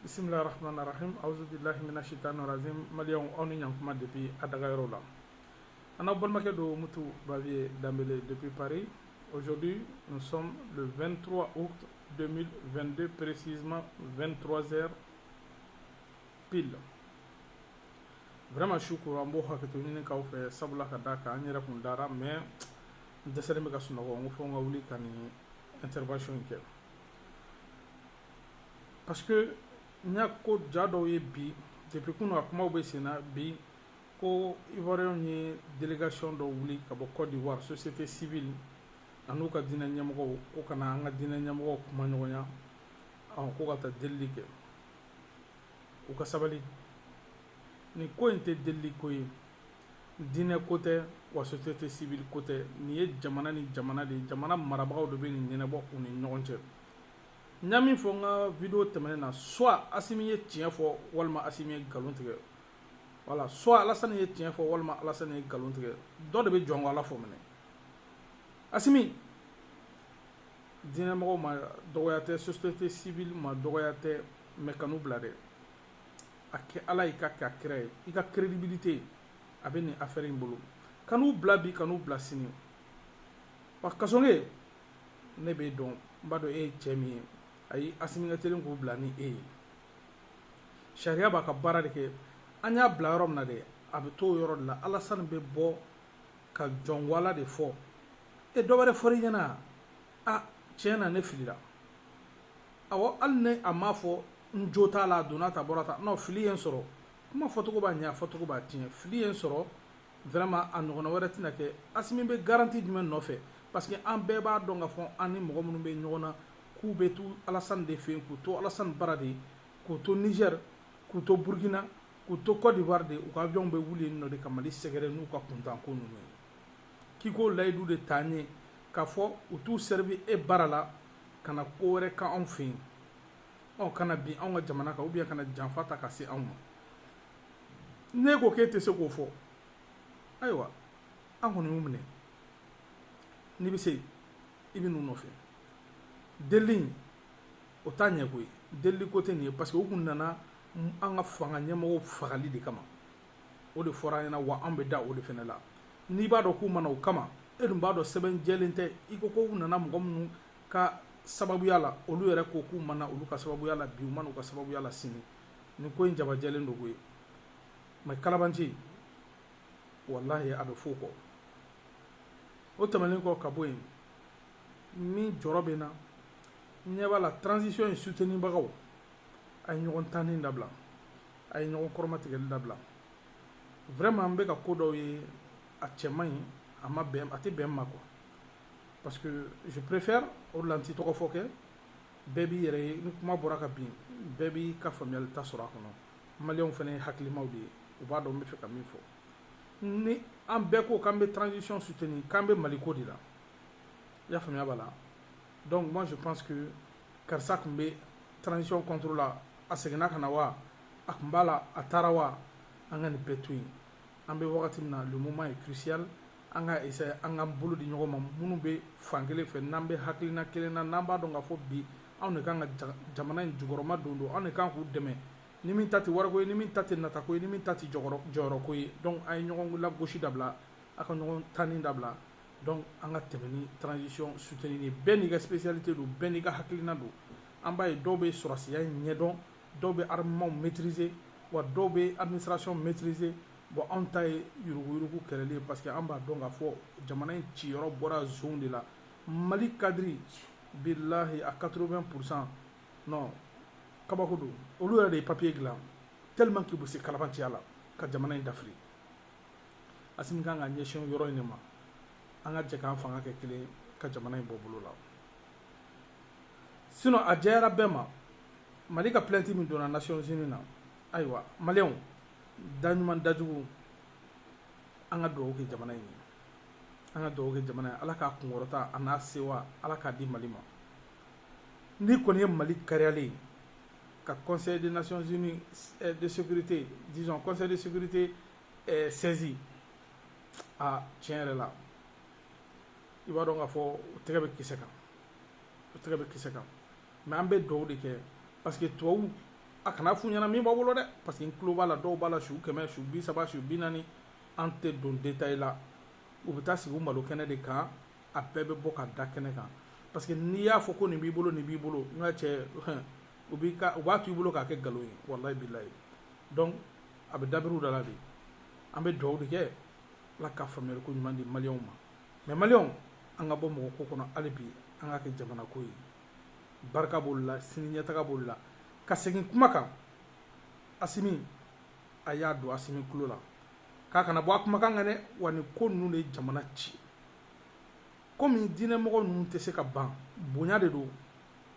bisimila rahman rahim auzubillahi mina shaitanir rajim maliyɛnw aw ni ɲankuma depuis a dagayɔrɔ la an n'aw balimakɛ don mutu baviye danbele depuis paris aujourd'hui nous sommes le 23 août 2022 précisément 23 heures pile vraiment su kora n b'o hakɛto ɲini k'aw fɛ sabula ka da kan n yɛrɛ kun dara mais n dɛsɛlen bɛ ka sunɔgɔ n ko fo n ka wuli ka nin intervention in kɛ parce que n y'a ko ja dɔw ye bi depuis kunu a kumaw bɛ sen na bi ko ivoiriyɛnw ye delegation dɔ wuli ka bɔ cote d'ivoire société civile an'u ka diinɛ ɲɛmɔgɔw ko ka na an ka diinɛ ɲɛmɔgɔw kuma ɲɔgɔnya ɔn ko ka taa delili kɛ u ka sabali nin ko in tɛ delili ko ye diinɛ ko tɛ wa société civile ko tɛ nin ye jamana ni jamana de ye jamana marabagaw de bɛ nin ɲɛnabɔ u ni ɲɔgɔn cɛ n y'a min fɔ n ka video tɛmɛnen na soit asimi ye tiɲɛ fɔ walima asimi ye nkalon tigɛ wala soit alasani ye tiɲɛ fɔ walima alasani ye nkalon tigɛ dɔ de bɛ jɔn ko ala fɔ minɛ asimi diinɛmɔgɔw ma dɔgɔya tɛ société civile ma dɔgɔya tɛ mais kan'u bila dɛ a kɛ ala y'i k'a kɛ a kira ye i ka crédibilité a bɛ nin affaire in bolo kan'u bila bi kan'u bila sini wa kasoge ne b'e dɔn n b'a dɔn e ye cɛ min ye ayi asimi ka teli k'u bila ni e ye sariya b'a ka baara de kɛ an y'a bila yɔrɔ min na dɛ a bɛ t'o yɔrɔ de la alasani bɛ bɔ ka jɔn ko ala de fɔ e dɔ wɛrɛ fɔra i ɲɛna a tiɲɛ na ne filila awɔ hali ni a m'a fɔ n jo t'a la a donna tan bɔra tan non fili ye n sɔrɔ kuma fɔcogo b'a ɲɛ a fɔcogo b'a tiɲɛ fili ye n sɔrɔ vraiment a ɲɔgɔnna wɛrɛ tɛna kɛ asimi bɛ garanti jumɛn nɔfɛ parce que an bɛɛ b'a dɔn ka fɔ an ni mɔgɔ minnu bɛ ɲɔgɔn na k'u bɛ to alasani de fɛ yen k'u to alasani bara de k'u to niger k'u to burkina k'u to cote d'ivoire de u ka avion bɛ wuli yen nɔ de ka mali sɛgɛrɛ n'u ka kuntanko ninnu ye k'i k'o layidu de t'a ye k'a fɔ u t'u servi e bara la ka na ko wɛrɛ k'anw fɛ yen nɔ ka na bin anw ka jamana kan ou bien ka na janfa ta ka se anw ma n'e ko k'e tɛ se k'o fɔ ayiwa an kɔni y'u minɛ n'i bɛ se i bɛ n'u nɔfɛ delili in o t'a ɲɛ koyi delili ko tɛ nin ye parce que u kun nana an ka fanga ɲɛmɔgɔw fagali de kama o de fɔra an ɲɛna wa an bɛ da o de fana la n'i b'a dɔn k'u ma na o kama e dun b'a dɔn sɛbɛn jɛlen tɛ i ko ko u nana mɔgɔ minnu ka sababuya la olu yɛrɛ ko k'u ma na olu ka sababuya la bi u ma na u ka sababuya la sini nin ko in jabajɛlen don koyi mais kalabanci walahi a bɛ f'o kɔ o tɛmɛnen kɔ ka bɔ yen min jɔrɔ bɛ n na n ɲɛ b'a la transition in soutenibagaw a ye ɲɔgɔn tanni dabila a ye ɲɔgɔn kɔrɔmatigɛli dabila vraiment n bɛ ka ko dɔw ye a cɛ man ɲi a ma bɛn a tɛ bɛn n ma quoi parce que je préfère o de la n tɛ tɔgɔ fɔ kɛ bɛɛ b'i yɛrɛ ye ni kuma bɔra ka bin bɛɛ b'i ka faamuyali ta sɔrɔ a kɔnɔ maliyɛnw fana ye hakilimaw de ye u b'a dɔn n bɛ fɛ ka min fɔ ni an bɛɛ ko k'an bɛ transition soutenir k'an bɛ mali ko de la i y'a faamuya b'a la donc moi je pense que karisa tun bɛ transition contre la a seginna ka na wa a tun b'a la a taara wa an ka nin bɛɛ to yen an bɛ wagati min na le moment est crucial an ka essayer an ka bolo di ɲɔgɔn ma minnu bɛ fan kelen fɛ n'an bɛ hakilina kelen na n'an b'a dɔn k'a fɔ bi anw de kan ka jamana in jukɔrɔma don don anw de kan k'u dɛmɛ ni min ta tɛ wariko ye ni min ta tɛ natako ye ni min ta tɛ jɔyɔrɔko ye donc a ye ɲɔgɔn lagosi dabila a ka ɲɔgɔn tanni dabila donc an ka tɛmɛ ni transition soutenir ye bɛɛ n'i ka spécialité don bɛɛ n'i ka hakilina don an b'a ye dɔw bɛ sɔrɔsiya ɲɛdɔn dɔw bɛ armement maîtriser wa dɔw bɛ administration maîtriser bon anw ta ye yuruguyurugu kɛlɛli ye parce que an b'a dɔn k'a fɔ jamana in ciyɔrɔ bɔra zonw de la mali cadre bilahi à 80 pourcent non kabako don olu yɛrɛ de ye papier dilan tellement que u bɛ se kalabanciya la ka jamana in dafiri asimi kan ka ɲɛsin yɔrɔ in de ma an ka jɛ k'an fanga kɛ kelen ka jamana in bɔ bolo la sinon a jɛyara bɛɛ ma mali ka plainte min donna nations unis na ayiwa maliyɛnw daɲuman dajugu an ka dugawu kɛ jamana in ye an ka dugawu kɛ jamana ye ala ka kunkɔrɔta a n'a sewa ala k'a di mali ma n'i kɔni ye mali kariyalen ye ka conseil des nations unies eh, de sécurité disons conseil de sécurité eh, saisi ah, tiɲɛ yɛrɛ la i b'a dɔn k'a fɔ u tɛgɛ bɛ kisɛ kan u tɛgɛ bɛ kisɛ kan mais an bɛ dugawu de kɛ parce que tubabu a kana f'u ɲɛna min b'a bolo dɛ parce que n tulo b'a la dɔw b'a la su kɛmɛ su bi saba su bi naani an tɛ don détail la u bɛ taa sigi u malo kɛnɛ de kan a bɛɛ bɛ bɔ ka da kɛnɛ kan parce que n'i y'a fɔ ko nin b'i bolo nin b'i bolo n ka cɛ u b'i ka u b'a to i bolo k'a kɛ nkalon ye walayi bilayi donc a bɛ dabiri u da la de an bɛ dugawu de kɛ ala ka faamuyali ko ɲuman di maliyɛnw ma mɛ maliyɛnw an ka bɔ mɔgɔ ko kɔnɔ hali bi an ka kɛ jamana ko ye barika b'olu la sini ɲɛtaga b'olu la ka segin kuma kan asimi a y'a don asimi tulo la k'a kana bɔ a kumakan kan dɛ wa nin ko ninnu de ye jamana ci komi diinɛmɔgɔ ninnu tɛ se ka ban bonya de don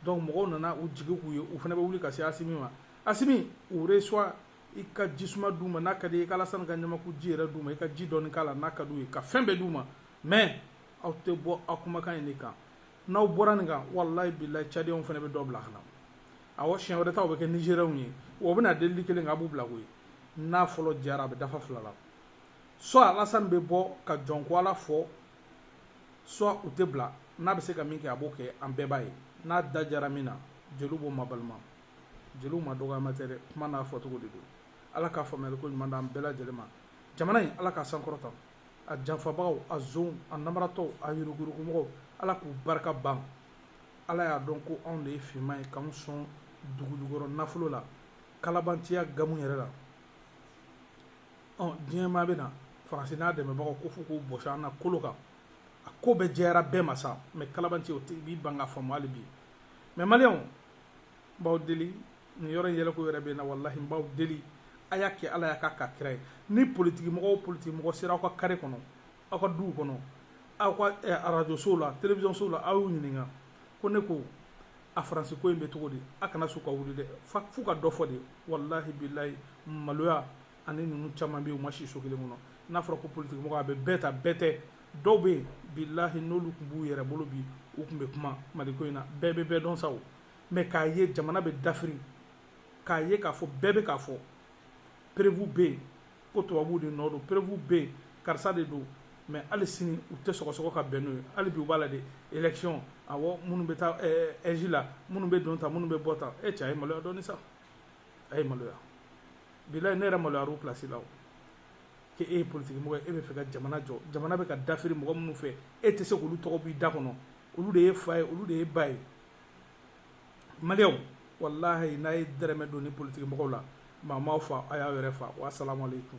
donc mɔgɔw nana u jigi k'u ye u fana bɛ wuli ka se asimi ma asimi u resuwa i ka jisuma d'u ma n'a ka di i ka alasani ka ɲamaku ji yɛrɛ d'u ma i ka ji dɔɔni k'a la n'a ka d'u ye ka fɛn bɛɛ d'u ma mais aw tɛ bɔ aw kumakan in de kan n'aw bɔra nin kan walayi bilayi cadiyɛnw fana bɛ dɔ bila ka na awɔ siɲɛ wɛrɛ ta o bɛ kɛ nizeriyɛnw ye wa u bɛna delili kelen kɛ a b'u bila koyi n'a fɔlɔ jara a bɛ dafa fila la soit alasani bɛ bɔ ka jɔn ko ala fɔ soit u tɛ bila n'a bɛ se ka min kɛ a b'o kɛ an bɛɛ b'a ye n'a da jara min na jeliw b'o mabalima jeliw ma dɔgɔyama tɛ dɛ kuma n'a fɔcogo de don ala ka faamuyali ko ɲuman d'an bɛɛ lajɛlen ma jamana in ala ka sankɔrɔta a janfabagaw a zonw a namaratɔw a yuruguyurugumɔgɔw ala k'u barika ban ala y'a dɔn ko anw de ye finman ye k'anw sɔn dugujukɔrɔ nafolo la kalabantiya gamu yɛrɛ la ɔ diɲɛ maa bɛ na faransi n'a dɛmɛbagaw ko f'u k'u bɔsi an na kolo kan a ko bɛɛ jɛyara bɛɛ ma sa mɛ kalabantiya o tɛ i b'i ban k'a faamu hali bi mɛ maliyɛnw n b'aw deli nin yɔrɔ in yɛlɛko yɛrɛ bɛ n na walahi n b'aw deli a y'a kɛ ala ye k'a kɛ kira ye ni politikimɔgɔ o politikimɔgɔ sera aw ka kare kɔnɔ aw ka duw kɔnɔ aw ka eh, arajosow la telewisɔnsow la aw y'u ɲininka ko ne ko a faransi ko in bɛ cogo di a kana sɔn u ka wuli dɛ f'u ka dɔ fɔ de walahi bilayi maloya ani ninnu caman bɛ yen u ma si so kelen kɔnɔ n'a fɔra ko politikimɔgɔ a bɛ bɛɛ ta bɛɛ tɛ dɔw bɛ yen bilahi n'olu tun b'u yɛrɛ bolo bi u tun bɛ kuma maliko in na bɛɛ bɛ bɛɛ dɔn sa o mɛ k'a ye jamana bɛ dafiri k'a ye k'a fɔ bɛɛ bɛ k'a fɔ preuve bɛ yen ko tubabuw de nɔ don preuve bɛ yen karisa de don mɛ hali sini u tɛ sɔgɔsɔgɔ ka bɛn n'o ye hali bi u b'a la de election awɔ minnu bɛ taa ɛji la minnu bɛ don ta minnu bɛ bɔ ta e cɛ a ye maloya dɔɔni sa a ye maloya bilayi ne yɛrɛ maloyara u place la o kɛ e ye politiki mɔgɔ ye e bɛ fɛ ka jamana jɔ jamana bɛ ka dafiri mɔgɔ minnu fɛ e tɛ se k'olu tɔgɔ b'i da kɔnɔ olu de ye fa ye olu de ye ba ye maliyɛnw walahi n'a ye dɛrɛmɛ don ni politiki mɔgɔw la maa m'aw fa a y'aw yɛrɛ fa wa salamu aleykum